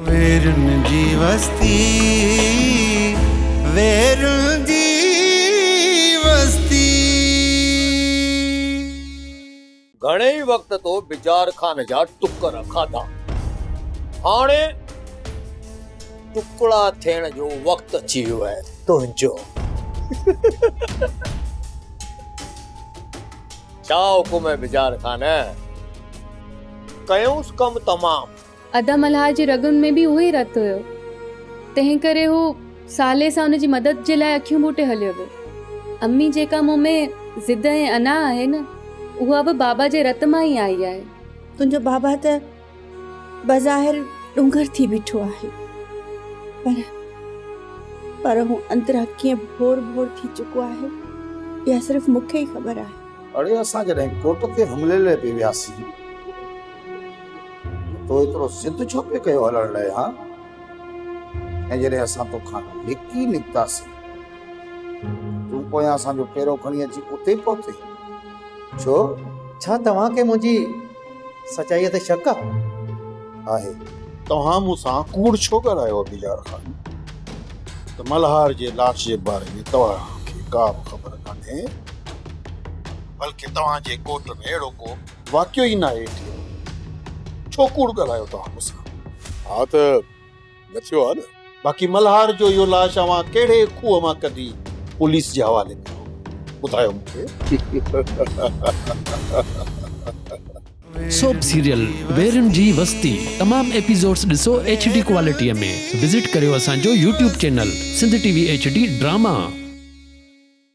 ويرن جي وستي ويرن جي وستي. گهڻي ئي وقت تو بجار خان جا ٽڪر کاڌا هاڻي ٽڪڙا ٿيڻ جو وقت اچي ويو آهي تنهنجو ڇا حڪم آهي بجار خان ڪيونس ڪم تمام. ادا ملهار جي رڳن ۾ به اهو ئي رت هيو، تنهن ڪري هو صالح سان ان جي مدد جي لاء اکيون ٻوٽي هليو ويو. امي جيڪا مون ۾ ضد ۽ انا آهي نه، اها به بابا جي رت مان ئي آئي آهي. تنهنجو بابا ته بظاهر ڏونگر ٿي بيٺو آهي، پر پر هو اندران ڪيئن ڀور ڀور ٿي چڪو آهي، اها صرف مون کي ئي خبر آهي. اڙي اسان جڏهن ڪوٽ تي حملي لاء پئي وياسين. تو ايترو ضد ڇو پئي ڪيو هلڻ لاء ها؟ ۽ جڏهن اسان توکان لڪي نڪتاسين، تون پويان اسان جو پيرو کڻي اچي اتي پهتين، ڇو؟ ڇا توهان کي منهنجي سچائيء تي شڪ آ؟ آهي. توهان مون سان ڪوڙ ڇو ڳالهايو ابي يار خان؟ ته ملهار جي لاش جي باري ۾ توهان کي ڪا به خبر ڪانهي، بلڪه توهان جي ڳوٺ ۾ اهڙو ڪو واقعو ئي ناهي ايٽي ايم ڇو ڪوڙ ڳالهايو توهان مون سان. ها ته نٿيو آ نه. باقي ملهار جو اهو لاش اوهان ڪهڙي کوهه مان ڪڍي پوليس جي حوالي ڪيو ٻڌايو مون کي. سوپ سيريل ويرين جي وستي تمام ايپيسوڊز ڏسو ايڇ ڊي ڪوالٽي ۾ وزٽ ڪريو اسان جو YouTube channel Sindh T V H D drama.